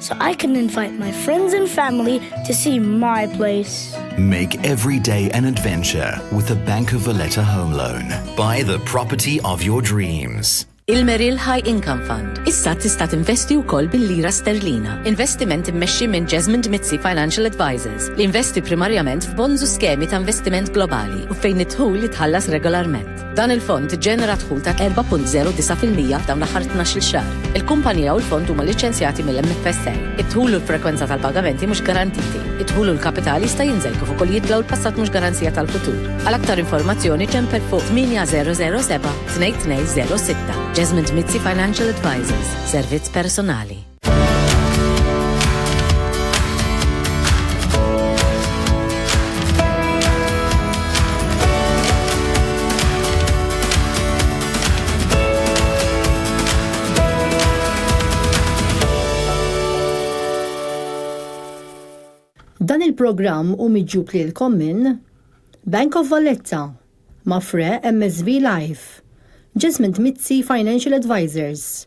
so I can invite my friends and family to see my place. Make every day an adventure with the Bank of Valletta Home Loan. Buy the property of your dreams. Il-Merrill High Income Fund. Issa tista' tinvesti wkoll bil-lira sterlina. Investiment immexxi minn Jasmine Mizzi Financial Advisors li investi primarjament f'bonds u skemi ta' investiment globali u fejn id-dħul jitħallas regolarment. Dan il-fond iġġenera dħul ta' 4.09 fil-mija f'dawn l-aħħar tnax-il xahar. Il-kumpanija u l-fond huma liċċenzjati mill-MFSA. Id-dħul u l-frekwenza tal-pagamenti mhux garantiti. Id-dħul u l-kapital jista' jinżel kif ukoll jitla' u l-passat mhux garanzija tal-futur. Għal aktar informazzjoni ċempel fuq 8007 2206. Jasmine Mizzi Financial Advisors, servizz personali. Dan il-programm u miġġub lilkom minn Bank of Valletta, Mafre MSB Life, Jasmine Mizzi Financial Advisors,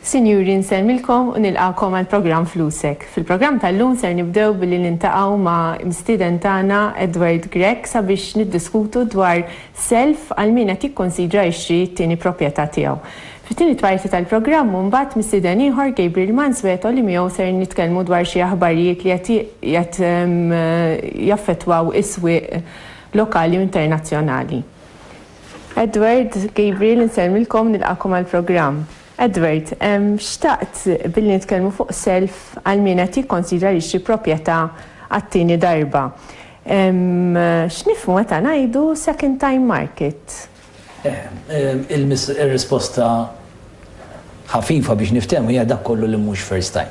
Sinjuri nsellmilkom u nilqagħkom għall-programm Flusek. Fil-programm tal-lum ser nibdew billi niltaqgħu ma' mistieden tagħna Edward Grech sabiex niddiskutu dwar self għal min qed jikkunsidra jixtri t-tieni proprjetà tiegħu. Fit-tieni tparti tal-programm u mbagħad mistieden ieħor Gabriel Mansueto li miegħu ser nitkellmu dwar xi aħbarijiet li qed qed jaffettwaw is-swieq lokali u internazzjonali. Edward, Gabriel insellmilkom nilqagħkom għall-programm. Edward, Xtaqt billi nitkellmu fuq self għal min qed jikkonsidra li jixtri proprjetà għat-tieni darba. X'nifhmu meta ngħidu second time market? Ir-risposta ħafifa biex niftehmu hija dak kollu li mhux first time.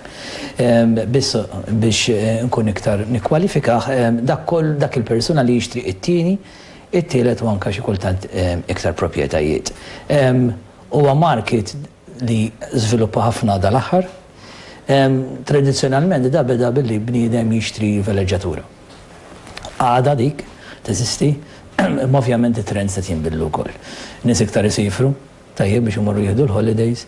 Biss biex inkun iktar nikkwalifikah, dak kollu, dak il-persuna li jixtri t-tieni, It-tielet u anke xi kultant iktar proprjetajiet. Huwa market li żviluppa ħafna dal-aħħar. Tradizzjonalment da beda billi bniedem jixtri veleġġatura. Għadha dik teżisti imma ovvjament it-trends qed jinbidlu wkoll. Nies iktar isiefru, tajjeb biex imorru jieħdu l-holidays.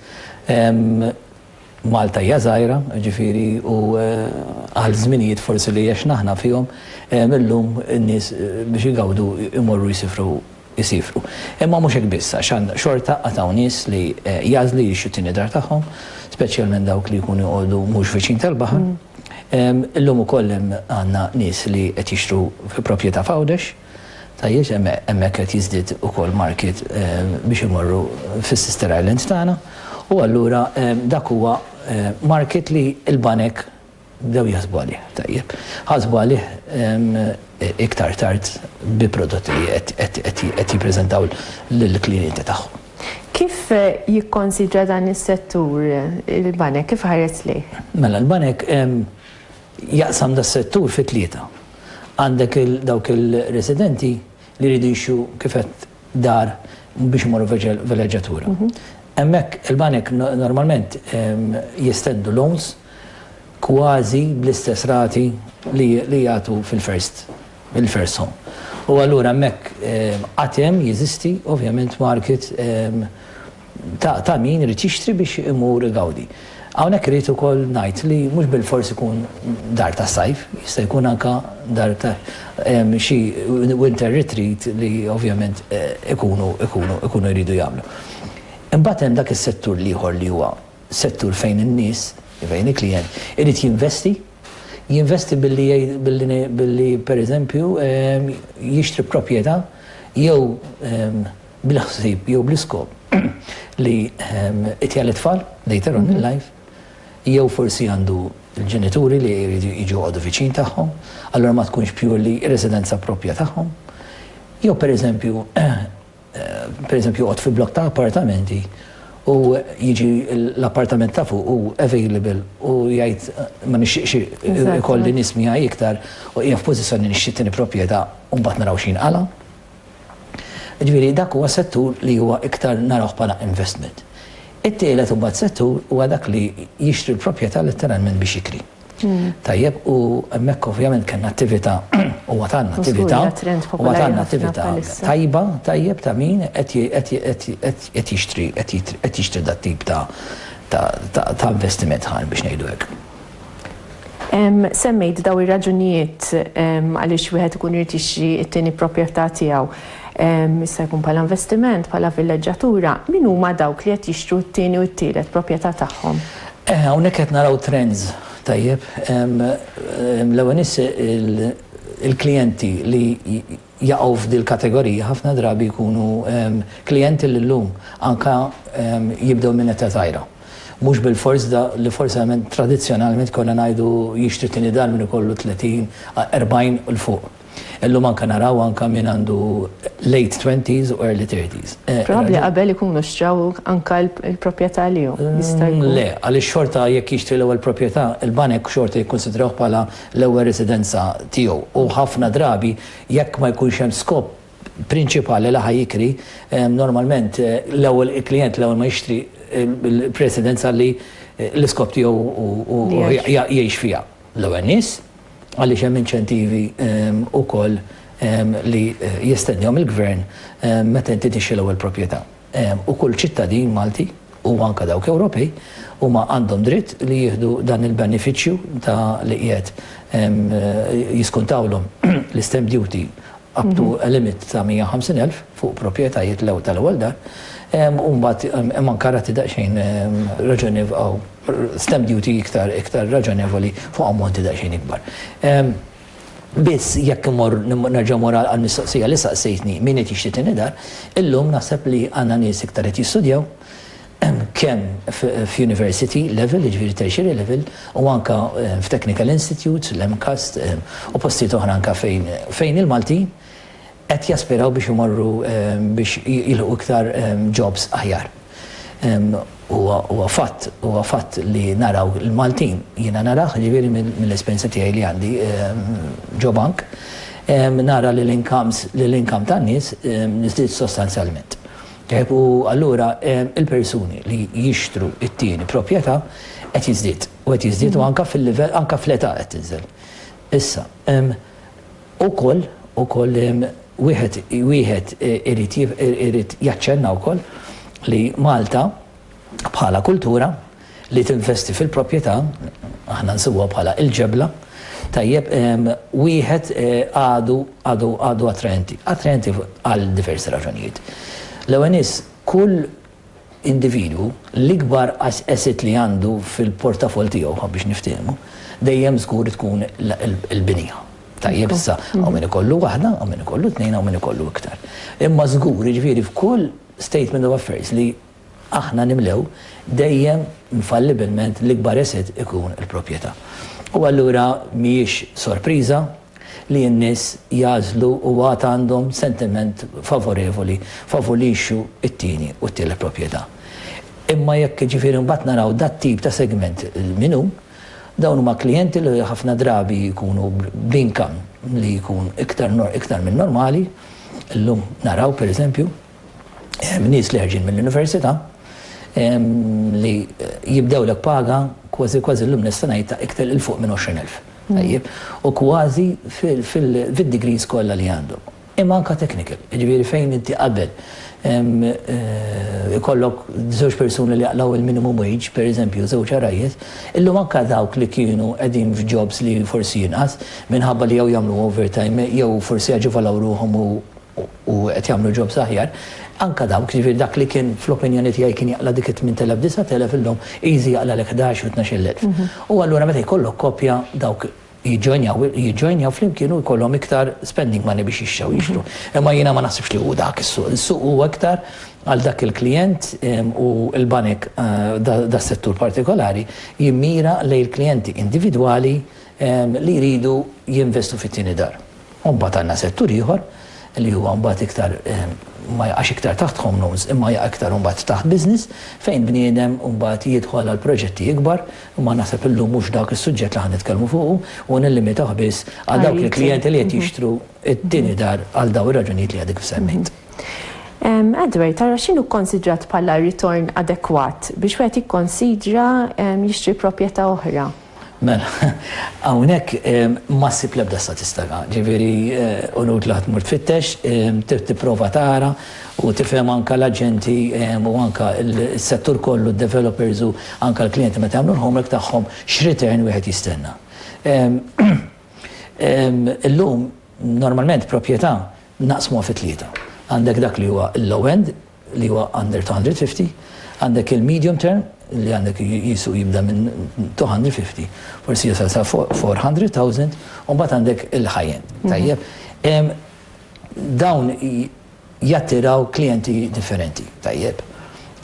Malta hija żgħira, jiġifieri, u għal żminijiet forsi li għexna aħna fihom, illum in-nies biex igawdu jmorru jsifru, isiefru. Imma mhux hekk biss, għax xorta għad hawn nies li jagħżlu jgħixu t-tieni dar tagħhom, speċjalment dawk li jkunu jqogħdu mhux viċin tal-baħar. Illum ukoll hemm għandna nies li qed jixtru proprjetà f'Għawdex. Tajjeż hemmhekk qed jiżdied ukoll markiet biex imorru fis-sister island tagħna u allura dak huwa market li l-banek bdew jaħsbu għalih. Tajjeb. Ħasbu għalih iktar tard bi prodotti li qed jippreżentaw lill-klijenti tagħhom. Kif jikkonsidra dan is-settur il-banek, kif iħares lejh? Mela l-banek Jaqsam das-settur fi tlieta. Għandek dawk ir-residenti li jridu jixtru kif għedt dar biex imorru f'vileġġatura. Hemmhekk il-banek normalment jistednu loans kważi bl-istess rati li jagħtu fil-first home. U allura hemmhekk għad hemm, jeżisti ovvjament market ta' min irid jixtri biex imur igawdi. Hawnhekk irrid ukoll ngħid li mhux bilfors ikun dar tas-sajf, jista' jkun anke dar ta' xi winter retreat li ovvjament ikunu ikunu jridu jagħmlu. Imbagħad hemm dak is-settur l-ieħor li huwa settur fejn in-nies, fejn il-klijent irid jinvesti, jinvesti billi billi billi pereżempju jixtri proprjetà jew bil-ħsieb jew bl-iskop li itjal it-tfal later on in life jew forsi għandu l-ġenituri li jridu jiġu joqogħdu viċin tagħhom, allura ma tkunx purely residenza proprja tagħhom. Jew pereżempju pereżempju joqgħod fi blokk ta' appartamenti u jiġi l-appartament ta' fuq u available u jgħid ma nixtieqx ikolli nies miegħi iktar u hija f'pożizzjoni nixtieq tieni proprjetà u mbagħad naraw x'jinqala'. Jiġifieri dak huwa settur li huwa iktar narawh bħala investment. It-tielet imbagħad settur huwa dak li jixtri l-proprjetà letteralment biex jikri. Tajjeb, u hemmhekk ovvjament kellna attività u għad għandna attività u għad għandna attività tajba, tajjeb, ta' min qed jixtri qed jixtri dat-tip ta' investiment ħa biex ngħidu hekk. Semmejt dawn ir-raġunijiet għaliex wieħed ikun irid jixtri t-tieni proprjetà tiegħu. Jista' jkun bħala investiment, bħala villeġġatura. Min huma dawk li qed jixtru t-tieni u t-tielet proprjetà tagħhom? Hawnhekk qed naraw trends, tajjeb. L-ewwel nies il-klijenti li jaqgħu f'dil kategorija ħafna drabi jkunu klijenti li llum anke jibdew minn età żgħira. Mhux bilfors dak li forsament tradizzjonalment konna ngħidu jixtri tieni dar min ikollu 30, 40 u 'l fuq. Illum anke naraw anke min għandu late twenties u early thirties. Probabbli qabel ikunu xtraw anke l-proprjetà lihom, jista' jkun. Le, għaliex xorta jekk jixtri l-ewwel proprjetà, il-banek xorta jikkunsidrawh bħala l-ewwel residenza tiegħu u ħafna drabi jekk ma jkunx hemm skop prinċipali li ħa jikri, normalment l-ewwel il-klijent l-ewwel ma jixtri l-residenza li l-iskop tiegħu hu jgħix fiha l-ewwel nies għaliex hemm inċentivi wkoll li jistennihom il-gvern meta inti tixtri l-ewwel proprjetà. u kull ċittadin Malti u anke dawk Ewropej huma għandhom dritt li jieħdu dan il-benefiċċju ta' li qiegħed jiskuntawlhom l-istamp duty up to a limit ta' 150 elf fuq proprjetajiet tal-ewwel dar u mbagħad hemm anke rati daqsxejn raġonevoli stamp duty iktar raġonevoli fuq ammonti daqsxejn ikbar. Biss, jekk immorr, nerġa' mmur għall-mistoqsija li saqsejtni, min qed jixtri tieni dar? Illum naħseb li għandna nies iktar qed jistudjaw, kemm f'university level, jiġifieri tertiary level, u anke f'technical institutes, l-MCAST, u postijiet oħra anke fejn fejn il-Maltin qed jaspiraw biex imorru biex jilħqu iktar jobs aħjar. Huwa huwa fatt, huwa fatt li naraw il-Maltin, jiena narah, jiġifieri mill-esperjenza tiegħi li għandi ġo bank, nara li l-incomes, li l-income tan-nies żdied sostanzjalment. Tajjeb, u allura il-persuni li jixtru t-tieni proprjetà qed jiżdied, u qed jiżdied u anke fil-livell, anke fl-età qed tinżel. Issa, Ukoll, ukoll, wieħed, wieħed irid irid jaċċenna wkoll li Malta bħala kultura li tinvesti fil-propjetà, aħna nsibuha bħala il-ġebla, tajjeb, wieħed għadu, għadu, għadu attraenti. Attraenti għal diversi raġunijiet. L-ewwel nies, kull individwu, l-ikbar asset li għandu fil-portafoll tiegħu, ħa biex niftiehmu, dejjem żgur tkun il-binja. Tajjeb, issa, hawn min ikollu waħda, hawn min ikollu tnejn, hawn min ikollu iktar. Imma żgur, jiġifieri f'kull statement of affairs li aħna nimlew, dejjem infallibilment l-ikbar asset ikun il-proprjetà. U allura mhijiex sorpriża, li n-nies jagħżlu u għad għandhom sentiment favorevoli favur li jixtru t-tieni u t-tielet proprjetà. Imma jekk jiġifieri mbagħad naraw dat-tip ta' segment min hu, dawn huma klijenti li ħafna drabi jkunu b'income li jkun iktar iktar minn normali, illum naraw pereżempju, nies li ħerġin mill-università li jibdewlek paga kważi kważi llum nista' ngħid ta' iktar il fuq minn 20,000. Tajjeb. U kważi fid-degrees kollha li għandhom. Imma anke technical, jiġifieri fejn inti qabel ikollok żewġ persuni li jaqlaw il-minimum wage, pereżempju żewġ għarajjes, illum anke dawk li kienu qegħdin f'jobs li forsi inqas minħabba li jew jagħmlu overtime jew forsi aġevolaw ruħhom u u qed jagħmlu jobs aħjar, anke dawk, jiġifieri dak li kien fl-opinjoni tiegħi kien jaqla' dik it-tmint elef, disgħat elef illum easy jaqlalek ħdax jew tnax-il elf. U allura meta jkollok koppja dawk jiġġoinjaw jiġġoinjaw flimkien u jkollhom iktar spending money biex jixtrew jixtru. Imma jiena ma naħsibx li hu dak is-suq. Is-suq hu iktar għal dak il-klijent u l-banek das-settur partikolari jimmira lejn il-klijenti individwali li jridu jinvestu fit-tieni dar. U mbagħad għandna settur ieħor li huwa mbagħad iktar ma jaqax iktar taħt home loans imma jaqa' iktar mbagħad taħt business fejn bniedem mbagħad jidħol għal proġetti ikbar imma naħseb illum mhux dak is-suġġett li ħa nitkellmu fuqu u nillimitawh biss għal dawk il-klijenti li qed jixtru t-tieni dar għal dawn ir-raġunijiet li għadek semmejt. Edward, tara x'inhu kkonsidrat bħala ritorn adekwat biex wieħed jikkonsidra jixtri proprjetà oħra? Mela, hawnhekk ma ssib l-ebda statistaga, ġifieri u inutli ħa tmur tfittex, trid tipprova tara u tifhem anke l-aġenti u anke s-settur kollu, d-developers u anke l-klijenti meta jagħmlu l-homework tagħhom x'return wieħed jistenna. Illum normalment proprjetà naqsmuha fi tlieta. Għandek dak li huwa l-low end, li huwa under 250, għandek il-medium term li għandek qisu jibda minn 250, forsi jasal sa 400,000, u mbagħad għandek il-high end. Tajjeb. Dawn jattiraw klijenti differenti. Tajjeb.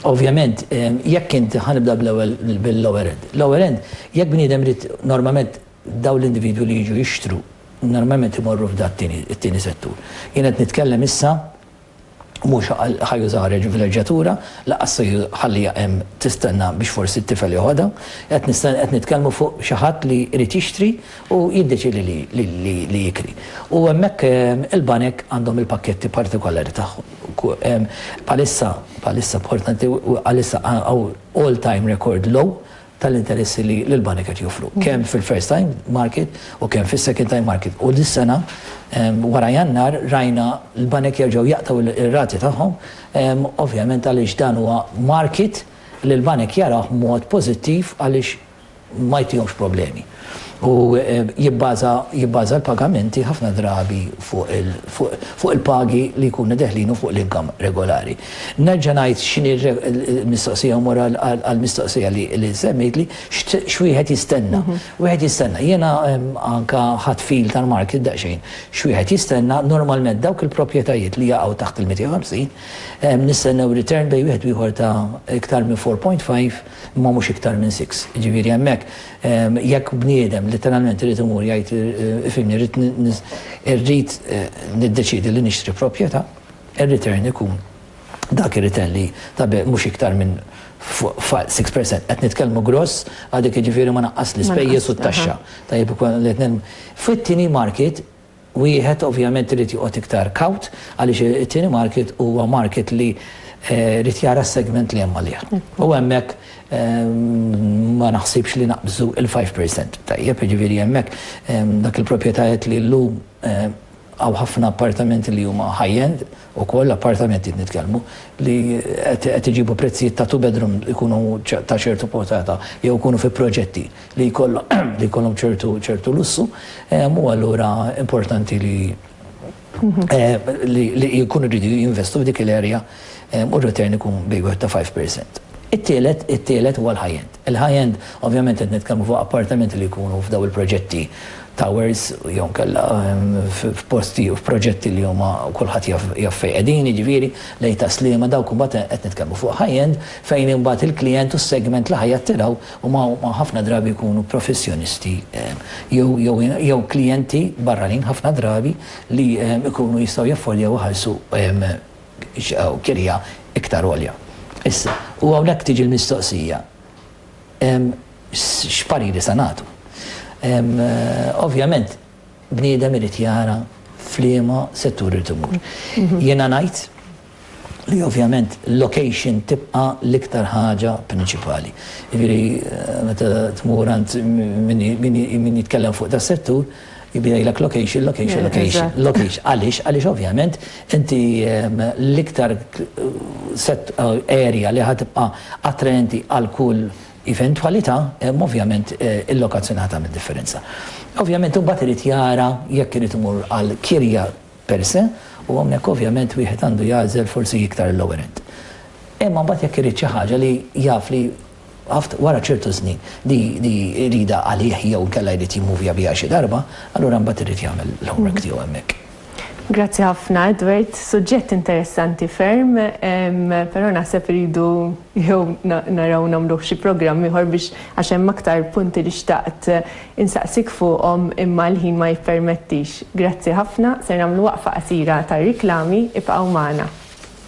Ovvjament, jekk inti ħa nibda bl-ewwel bil-lower end. Lower end, jekk bniedem irid normalment dawn l-individwi li jiġu jixtru normalment imorru f'da t-tieni settur. Jien qed nitkellem issa mhux ħa jużaha reġivileġġjatura, lanqas se jħalliha hemm tistenna biex forsi t-tifel joħodha. Qed nisten qed nitkellmu fuq xi ħadd li jrid jixtri u jiddeċiedi li li li li jikri. U hemmhekk il-banek għandhom il-pakketti partikolari tagħhom. Bħalissa bħalissa importanti bħalissa hawn all-time record low, tal-interessi li l-banek qed joffru, kemm fil-first time market u kemm fis-second time market. U dis-sena, wara Jannar, rajna l-banek jerġgħu jaqtgħu r-rati tagħhom, ovvjament għaliex dan huwa market li l-banek jarawh b'mod pożittiv għaliex ma jtihomx problemi. u jibbaża l-pagamenti ħafna drabi fuq il-pagi li jkunu deħlin u fuq l-income regolari. Nerġa' ngħid x'inhi l-mistoqsija u mmur għall-mistoqsija li semmejtli, x'wieħed jistenna? Wieħed jistenna, jiena anke ħadt feel tal-market daqsxejn, x'wieħed jistenna, normalment dawk il-proprjetajiet li jaqgħu taħt il-250, nistennew return bejn wieħed u ieħor ta' iktar minn 4.5, Imma mhux iktar minn six. Jiġifieri hemmhekk jekk bniedem litteralment irid imur jgħid ifhimni rrid irrid niddeċiedi li nixtri proprjetà, ir-return ikun dak ir-return li tabigħ mhux iktar minn fuq six percent. Qed nitkellmu gross għal dik jiġifieri ma naqqas l-ispejjeż u t-taxxa. Tajjeb ikun li qed Fit-tieni market, Wieħed ovvjament irid joqgħod iktar kawt għaliex it-tieni market huwa market li jrid jara s-segment li hemm għalih. U hemmhekk ma naħsibx li naqbżu l-five percent. Tajjeb, jiġifieri hemmhekk dak il-proprjetajiet li llum hawn ħafna appartamenti li huma high-end, Ukoll appartamenti qed nitkellmu li qed iġibu prezzijiet ta' two bedroom jkunu ta' ċertu portata jew ikunu fi proġetti li jkollhom ċertu lussu u allura importanti li li jkunu jridu jinvestu f'dik il-area u r-return ikun bejwieħed ta' five percent. It-tielet, it-tielet huwa l-high end. Il-high end, ovvjament qed nitkellmu fuq appartamenti li jkunu f'dawn il-proġetti, towers jew inkella f'posti u f'proġetti li huma kulħadd jaf jaf fejn qegħdin, jiġifieri lejn Tas-Sliema, dawk imbagħad qed nitkellmu fuq high end fejn imbagħad il-klijent u s-segment li ħa jattiraw huma huma ħafna drabi jkunu professjonisti jew jew jew klijenti barranin ħafna drabi li jkunu jistgħu jaffordjaw iħallsu kirja iktar għolja. Issa, u hawnhekk tiġi l-mistoqsija, x'pariri se nagħtu? Ovvjament, bniedem irid jara f'liema settur irid imur. Jiena ngħid li ovvjament l-location tibqa' l-iktar ħaġa prinċipali. Jiġifieri meta tmur għand min jitkellem fuq das-settur, Jibda jgħidlek location, location, location, location. Għaliex? Għaliex ovvjament inti l-iktar set area li ħatibqa' attraenti għal kull eventwalità, ovvjament il-lokazzjoni ħadd tagħmel differenza. Ovvjament imbagħad irid jara jekk irid imur għal kirja per se u hawnhekk ovvjament wieħed għandu jagħżel forsi iktar il-lower end. Imma mbagħad jekk irid xi ħaġa li jaf li Għaft, wara ċertu żmien, li jridha għalih jew inkella jrid jimmuvja biha xi darba, allura mbagħad irid jagħmel l-homework tiegħu hemmhekk. Grazzi ħafna, Edward. Suġġett interessanti ferm, però naħseb irridu jew naraw nagħmluh xi programm ieħor biex għax hemm aktar punti li xtaqt insaqsik fuqhom imma l-ħin ma jippermettix. Grazzi ħafna, ser nagħmlu waqfa qasira tar-riklami, ibqgħu magħna.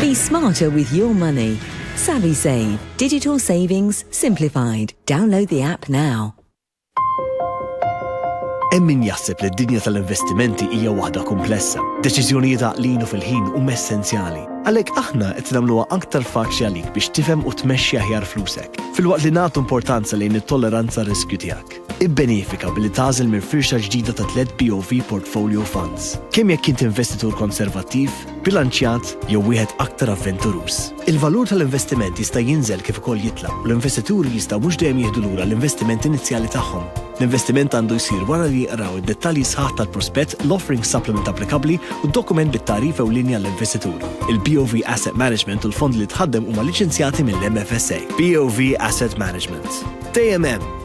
Be smarter with your money. SavvySave, digital savings simplified. Download the app now. Hemm min jaħseb li d-dinja tal-investimenti hija waħda kumplessa. Deċiżjonijiet għaqlin u fil-ħin huma essenzjali. Għalhekk aħna qed nagħmluha aktar faċli għalik biex tifhem u tmexxi aħjar flusek, filwaqt li nagħtu importanza lejn it-tolleranza għar-riskju tiegħek. Ibbenefika billi tagħżel minn firxa ġdida ta' tliet BOV Portfolio Funds, kemm jekk int investitur konservattiv, bilanċjat jew wieħed aktar avventuruż. Il-valur tal-investiment jista' jinżel kif ukoll jitla' u l-investituri jistgħu mhux dejjem jieħdu lura l-investiment inizjali tagħhom. L-investiment għandu jsir wara li jqraw id-dettalji sħaħ tal-prospett, l-offering supplement applikabbli u d-dokument bit-tagħrif ewlieni għall-investitur. Il-BOV Asset Management u l-fondi li tħaddem huma liċenzjati mill-MFSA. BOV Asset Management. Dejjem hemm!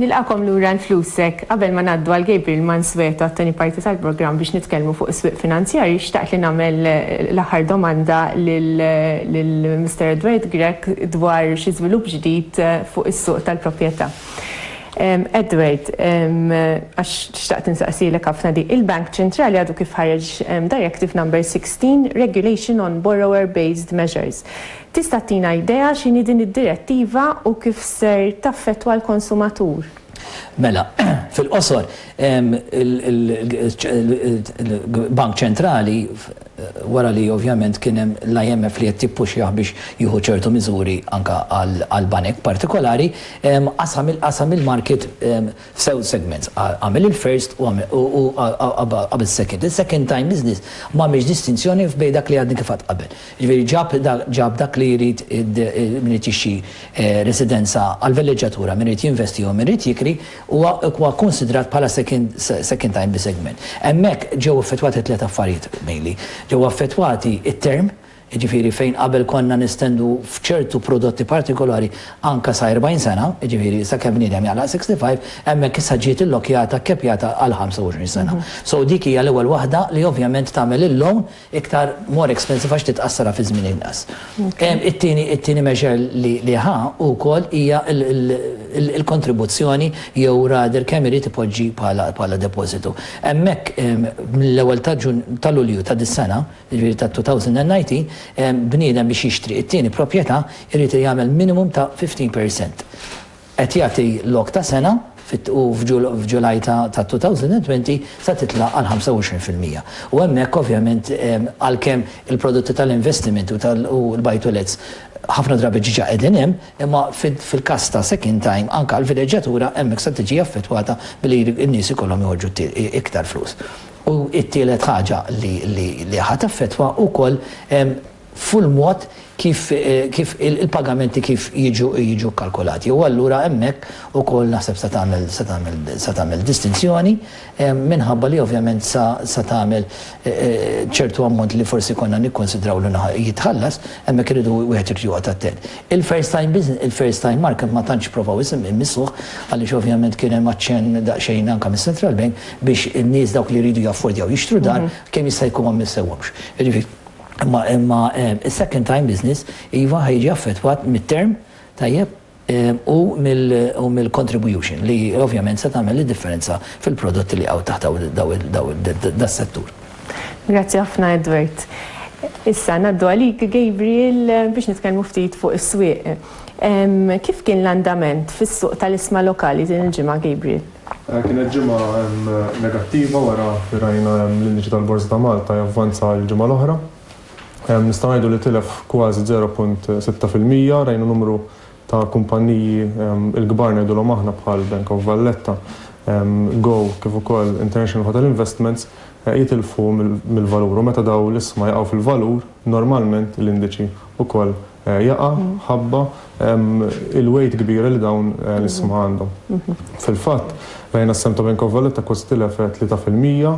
Nilqagħkom lura għal Flusek! Qabel ma ngħaddu għal Gabriel Mansueto għat-tieni parti tal-programm biex nitkellmu fuq is-swieq finanzjarji, xtaqt li nagħmel l-aħħar domanda lil Mister Edward Grech dwar xi żvilupp ġdid fuq is-suq tal-proprjetà. Edward, għax xtaqt insaqsielek ħafna din, il-Bank Ċentrali għadu kif ħareġ Directive Number 16, Regulation on Borrower-Based Measures. Tista' ttina idea x'inhi din id-direttiva u kif ser taffettwa l-konsumatur? Mela, fil-qosor, il-Bank Ċentrali, wara li ovvjament kien hemm l-IMF li qed jippuxjah biex jieħu ċertu miżuri anke għall-banek partikolari, qasam il-market f'żewġ segments, għamel il-first u qabel is-second. Il-second time business m'għamilx distinzjoni bejn dak li għadni kif għedt qabel. Jiġifieri ġab dak li jrid min irid jixtri residenza għall-villeġġatura, min irid jinvesti jew min irid jikri, huwa kkunsidrat bħala second time bi segment. Hemmhekk ġew effettwati tliet affarijiet mainly. Ġew affettwati t-term, jiġifieri fejn qabel konna nestendu f'ċertu prodotti partikolari anke sa 40 sena, jiġifieri sakemm bniedem jaqlaq 65, hemmhekk issa ġiet illockjata, kkepjata għal 25 sena. So dik hija l-ewwel waħda li ovvjament tagħmel il-loan, iktar more expensive għax titqassarha fi żmien inqas. It-tieni it-tieni measure li li ħa hu wkoll hija l-kontribuzzjoni jew rather kemm irid ipoġġi bħala bħala depożitu. Hemmhekk mill-ewwel ta' Ġun ta' Lulju ta' dis-sena, jiġifieri ta' 2019, bniedem biex jixtri t-tieni proprjetà jrid jagħmel minimum ta' 15 percent. qed jagħti lok ta' sena fit u f'Ġulaj ta' 2020 sa titla' għal 25 fil-mija. U hemmhekk ovvjament għalkemm il-prodotti tal-investiment u tal u l-buy-to-lets ħafna drabi diġà qegħdin hemm, imma fil-każ ta' second time anke għall-vileġġatura hemmhekk se tiġi affettwata billi n-nies ikollhom joħorġu iktar flus. U t-tielet ħaġa li li li ħa taffettwa wkoll fuq il-mod kif kif il-pagamenti kif jiġu jiġu kkalkulati. U allura hemmhekk ukoll naħseb se tagħmel se tagħmel se tagħmel distinzjoni minħabba li ovvjament sa sa tagħmel ċertu ammont li forsi konna nikkunsidraw li jitħallas, hemmhekk iridu wieħed irid joqgħod attent. Il-first time business, il-first time market ma tantx provaw imissuh għaliex ovvjament kien hemm aċċenn daqsxejn anke mis-Central Bank biex in-nies dawk li jridu jaffordjaw jixtru dar kemm jista' jkun ma mmissewhomx. Jiġifieri, Imma imma is-second time business iva ħa jiġi affettwat mit-term, tajjeb, u mill u mill-contribution li ovvjament se tagħmel id-differenza fil-prodotti li jaqgħu taħt daw il daw il das-settur. Grazzi ħafna Edward. Issa ngħaddu għalik Gabriel biex nitkellmu ftit fuq is-swieq. Kif kien l-andament fis-suq tal-isma lokali din il-ġimgħa Gabriel? Kienet ġimgħa negattiva wara li rajna l-indiċi tal-Borża ta' Malta javvanza għall-ġimgħa l-oħra. Nistgħu ngħidu li tilef kważi 0.6 fil-mija. Rajna numru ta' kumpanniji l-kbar ngħidulhom aħna bħal Bank of Valletta, Go kif ukoll International Hotel Investments jitilfu mill-valur u meta dawn l-isma jaqgħu fil-valur normalment l-indiċi wkoll jaqa' mħabba il-weight kbira li dawn l-isma għandhom. Fil-fatt, rajna s-sehem ta' Bank of Valletta kważi tilef 3 fil-mija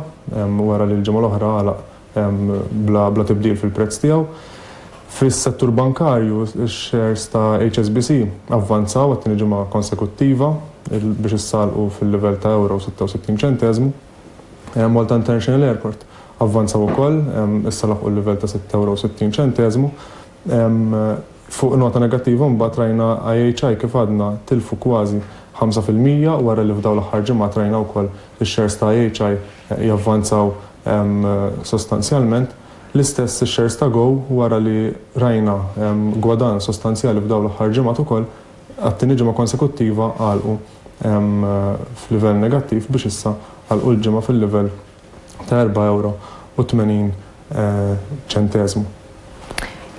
wara li l-ġimgħa l-oħra għalaq bla tibdil fil-prezz tiegħu. Fis-settur bankarju, ix-shares ta' HSBC avvanzaw għat-tieni ġimgħa konsekuttiva biex issallqu fil-livell ta' ewro u 66 ċenteżmu. Malta International Airport avvanzaw ukoll, issa laħqu l-livell ta' sitt ewro u sittin ċenteżmu. Fuq nota negattiva mbagħad rajna IHI kif għadna tilfu kważi ħamsa fil-mija wara li f'dawn l-aħħar ġimgħat rajna wkoll ix-shares ta' IHI javvanzaw sostanzjalment. L-istess ix-shares ta' Go wara li rajna gwadann sostanzjali f'dawn l-aħħar ġimgħat ukoll, għat-tieni ġimgħa konsekuttiva għalqu. f'livell negattiv biex issa għalqu l-ġimgħa fil-livell ta' erba' ewro u tmenin ċenteżmu.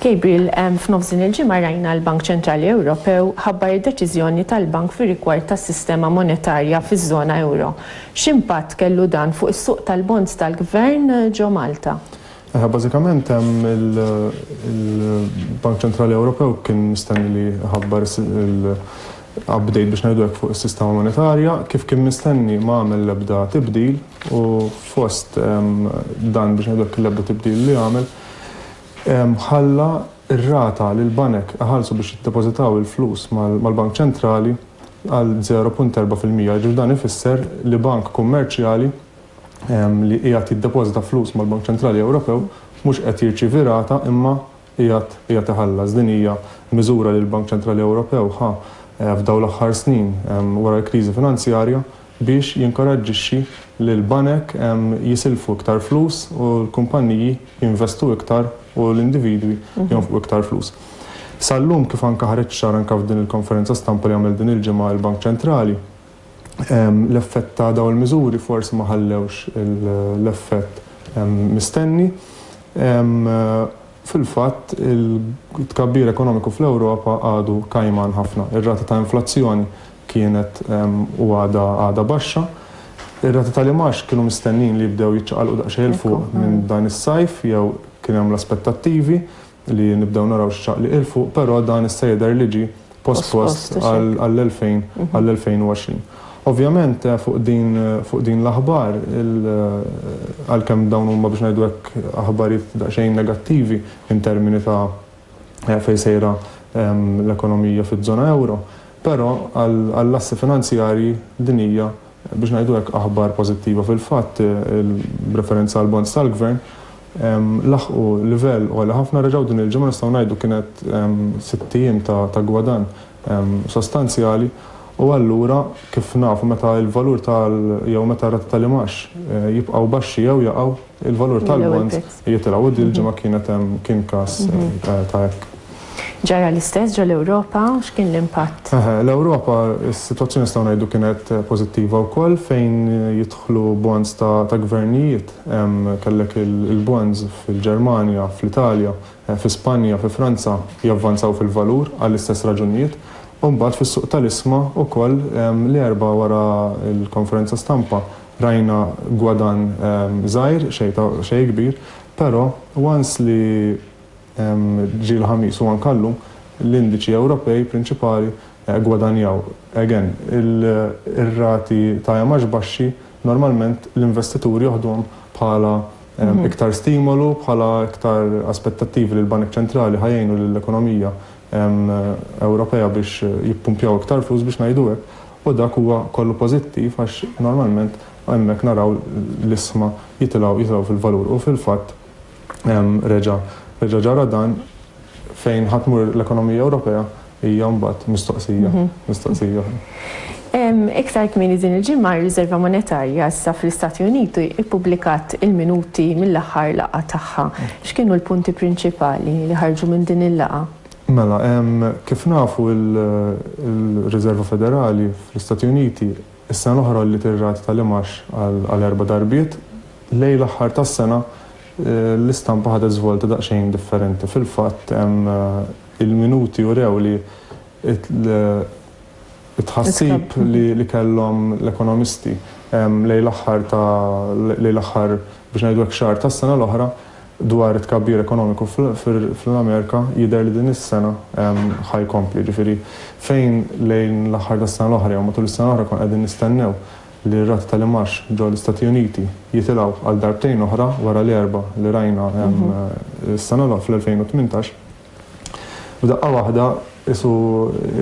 Gabriel, F'nofs din il-ġimgħa rajna l-Bank Ċentrali Ewropew ħabbar id-deċiżjoni tal-bank fir-rigward tas-sistema monetarja fiż-żona ewro. X'impatt kellu dan fuq is-suq tal-bonds tal-Gvern ġo Malta? Aha, bażikament hemm il-Bank Ċentrali Ewropew kien mistenni li ħabbar il-update biex ngħidu hekk fuq is-sistema monetarja, kif kien mistenni ma għamel l-ebda tibdil u fost dan biex ngħidu hekk l-ebda tibdil li għamel ħalla r-rata li l-banek iħallsu biex jiddepożitaw il-flus mal-Bank Ċentrali għal 0.4 fil-mija, jiġifieri dan ifisser li bank kummerċjali li qiegħed jiddepożita flus mal-Bank Ċentrali Ewropew mhux qed jirċievi rata imma qiegħed iħallas. Din hija miżura li l-Bank Ċentrali Ewropew ħa f'dawn l-aħħar snin wara l-kriżi finanzjarja biex jinkoraġġixxi lill-banek jisilfu iktar flus u l-kumpanniji jinvestu iktar u l-individwi jonfqu iktar flus. Sal-lum kif anke ħareġ ċar anke f'din il-konferenza stampa li għamel din il-ġimgħa l-Bank Ċentrali, L-effett ta' dawn il-miżuri forsi ma ħallewx l-effett mistenni. Fil-fatt, it-tkabbir ekonomiku fl-Ewropa għadu kajman ħafna. Ir-rata ta' inflazzjoni kienet u għadha għadha baxxa. Ir-rati tal-imgħax kienu mistennijin li jibdew jiċċaqalqu daqsxejn 'l fuq minn dan is-sajf jew kien hemm l-aspettattivi. li nibdew naraw xi ċaqliq 'il fuq, però dan issa jidher li ġie pospost għall-2020. Ovvjament fuq din l-aħbar, għalkemm dawn huma biex ngħidu hekk aħbarijiet daqsxejn negattivi in termini ta' fejn sejra l-ekonomija fiż-żona ewro, però għall-assi finanzjarji din hija biex ngħidu hekk aħbar pożittiva. Fil-fatt, b'referenza għall-bonds tal-gvern, laħqu livell għoli ħafna, reġgħu din il-ġimgħa nistgħu ngħidu kienet sitt ijiem ta' gwadann sostanzjali u allura kif nafu meta l-valur tal jew meta r-rati tal-imgħax jibqgħu baxxi jew jaqgħu, il-valur tal-bonds jitilgħu u din il-ġimgħa kienet kien każ ta' hekk. Ġara l-istess ġo l-Ewropa? X'kien l-impatt? Eħe, l-Ewropa s-sitwazzjoni nistgħu ngħidu kienet pożittiva wkoll fejn jidħlu bonds ta' gvernijiet Kellek il-bonds fil-Ġermanja, fl-Italja, fi Spanja, fi Franza javvanzaw fil-valur għall-istess raġunijiet. U mbagħad fis-suq tal-isma wkoll l-Erbgħa wara l-konferenza stampa rajna gwadann żgħir, xejn kbir, però once li ġie l-Ħamis u anke llum l-indiċi Ewropej prinċipali gwadanjaw. Again, ir-rati ta' EMAX baxxi Normalment l-investitur joħdhom bħala iktar stimolu, bħala iktar aspettattivi li l-banek ċentrali ħa jgħinu lill-ekonomija Ewropea biex jippumpjaw iktar flus, biex ngħidu hekk, u dak huwa kollu pożittiv għax normalment hemmhekk naraw l-isma jitilgħu fil-valur u fil-fatt Reġa' reġa' ġara dan fejn ħadd mur l-ekonomija Ewropea hija mbagħad mistoqsija, mistoqsija. Iktar kmieni din il-ġimgħa r-Riżerva Monetarja issa fl-Istati Uniti ippubblikat il-minuti mill-aħħar laqgħa tagħha. X'kienu l-punti prinċipali li ħarġu minn din il-laqgħa? Mela, kif nafu l-Riżerva Federali fl-Istati Uniti Is-sena l-oħra għolliet ir-rati tal-imgħax għal erba' darbiet. Lejn l-aħħar tas-sena, l-istampa ħadet żvolta daqsxejn differenti. Fil-fatt, il-minuti urew li t-tħassib li kellhom l-ekonomisti lejn l-aħħar ta' lejn l-aħħar, biex ngħidu hekk, xahar tas-sena l-oħra Dwar it-tkabbir ekonomiku fl-Amerika, jidher li din is-sena ħa jkompli. Jiġifieri, fejn lejn l-aħħar tas-sena l-oħra jew matul is-sena l-oħra konna qegħdin nistennew li r-rati tal-imgħax ġol-Istati Uniti jitilgħu għal darbtejn oħra wara l-erba' li rajna s-sena fl-2018, F'daqqa waħda qisu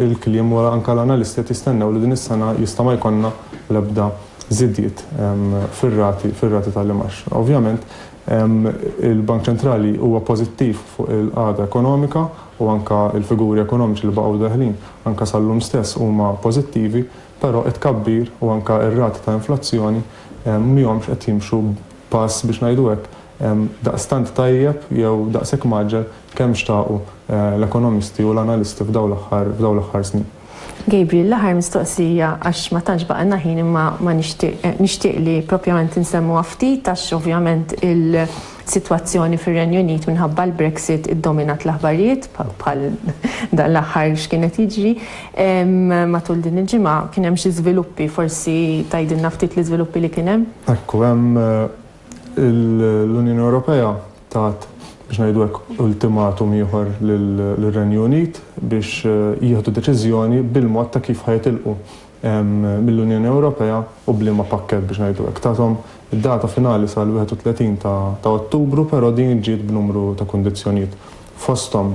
l-kliem wara anke l-analisti qed jistennew li din is-sena jista' ma jkollna l-ebda żidiet fir-rati fir-rati tal-imgħax. Ovvjament il-Bank Ċentrali huwa pożittiv fuq il-qagħda ekonomika u anke l-figuri ekonomiċi li baqgħu deħlin anke sal-lum stess huma pożittivi, Però it-tkabbir u anke r-rati ta' inflazzjoni mhjomx qed jimxu b'pass, biex ngħidu hekk, daqstant tajjeb jew daqshekk mgħaġġel kemm xtaqu l-ekonomisti u l-analisti f'dawn l-aħħar f'dawn l-aħħar snin. Gabriel, l-aħħar mistoqsija għax ma tantx baqgħilna ħin imma ma nixtieq nixtieq li propjament insemmuha ftit għax ovvjament il, Sitwazzjoni fir-Renju Unit minħabba l-Brexit iddominat l-aħbarijiet bħal dan l-aħħar x'kien qed jiġri. Matul din il-ġimgħa kien hemm xi żviluppi, forsi tgħidilna ftit l-iżviluppi li kien hemm? Ekku, hemm l-Unjoni Ewropea tat, biex ngħidu hekk, ultimatum ieħor lir-Renju Unit biex jieħdu deċiżjoni bil-mod ta' kif ħa jitilqu mill-Unjoni Ewropea u b'liema pakkett biex ngħidu hekk. Tathom data finali sal-31 ta' Ottubru però din ġiet b'numru ta' kundizzjonijiet. Fosthom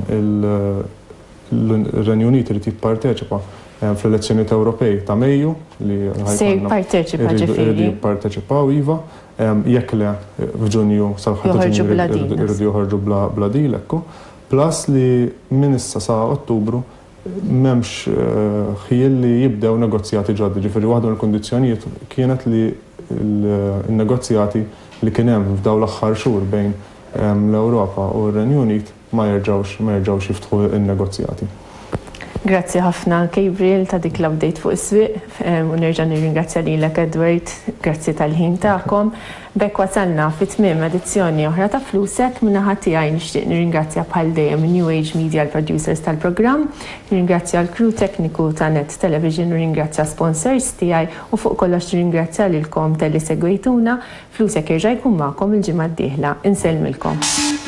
ir-Renju Unit irid jipparteċipa fl-elezzjonijiet Ewropej ta' Mejju li ħajkonna iridu jipparteċipaw iva, jekk le f'Ġunju sal-aħħar ta' Ġunju iridu joħorġu bla deal hekk hu. Plus li minn issa sa Ottubru M'hemmx ħjiel li jibdew negozjati ġodda, jiġifieri waħda mill-kundizzjonijiet kienet li n-negozjati li kien hemm f'dawn l-aħħar xhur bejn l-Ewropa u r-Renju Unit ma jerġgħux ma jerġgħux jiftħu n-negozjati. Grazzi ħafna Gabriel ta' dik l-update fuq is-swieq u nerġa' nirringrazzja lilek Edward, grazzi tal-ħin tagħkom. B'hekk wasalna fi tmiem edizzjoni oħra ta' Flusek. Min-naħa tiegħi nixtieq nirringrazzja bħal dejjem New Age Media l-producers tal-programm, nirringrazzja l-crew tekniku ta' Net Television, nirringrazzja sponsors tiegħi u fuq kollox nirringrazzja lilkom talli segwejtuna. Flusek jerġa' jkun magħkom il-ġimgħa d-dieħla. Insellmilkom.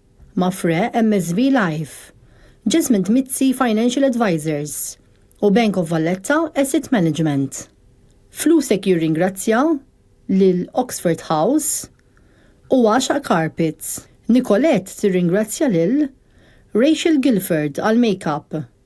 Mapfre, MSV Life, Jesmond Mizzi Financial Advisors u Bank of Valletta Asset Management. Flusek jirringrazzja lil Oxford House u Għaxaq Carpets. Nicolette tirringrazzja lil Rachel Gilford għall-makeup.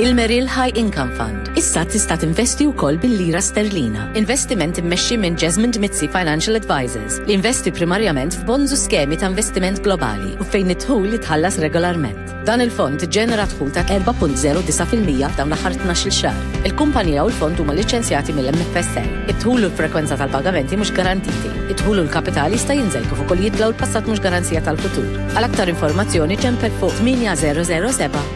Il-Merrill High Income Fund issa tista' tinvesti wkoll bil-lira sterlina. Investiment immexxi minn Jasmine Dmizzi Financial Advisors li jinvesti primarjament f'bonds u skemi ta' investiment globali u fejn id-dħul jitħallas regolarment. Dan il-fond iġġenera dħul ta' 4.09 fil-mija f'dawn l-aħħar tnax-il xahar. Il-kumpanija u l-fond huma liċenzjati mill-MFSA. Id-dħul u l-frekwenza tal-pagamenti mhux garantiti. Id-dħul u l-kapital jista' jinżel kif ukoll jitla u l-passat mhux garanzija tal-futur. Għal aktar informazzjoni ċempel fuq 8007.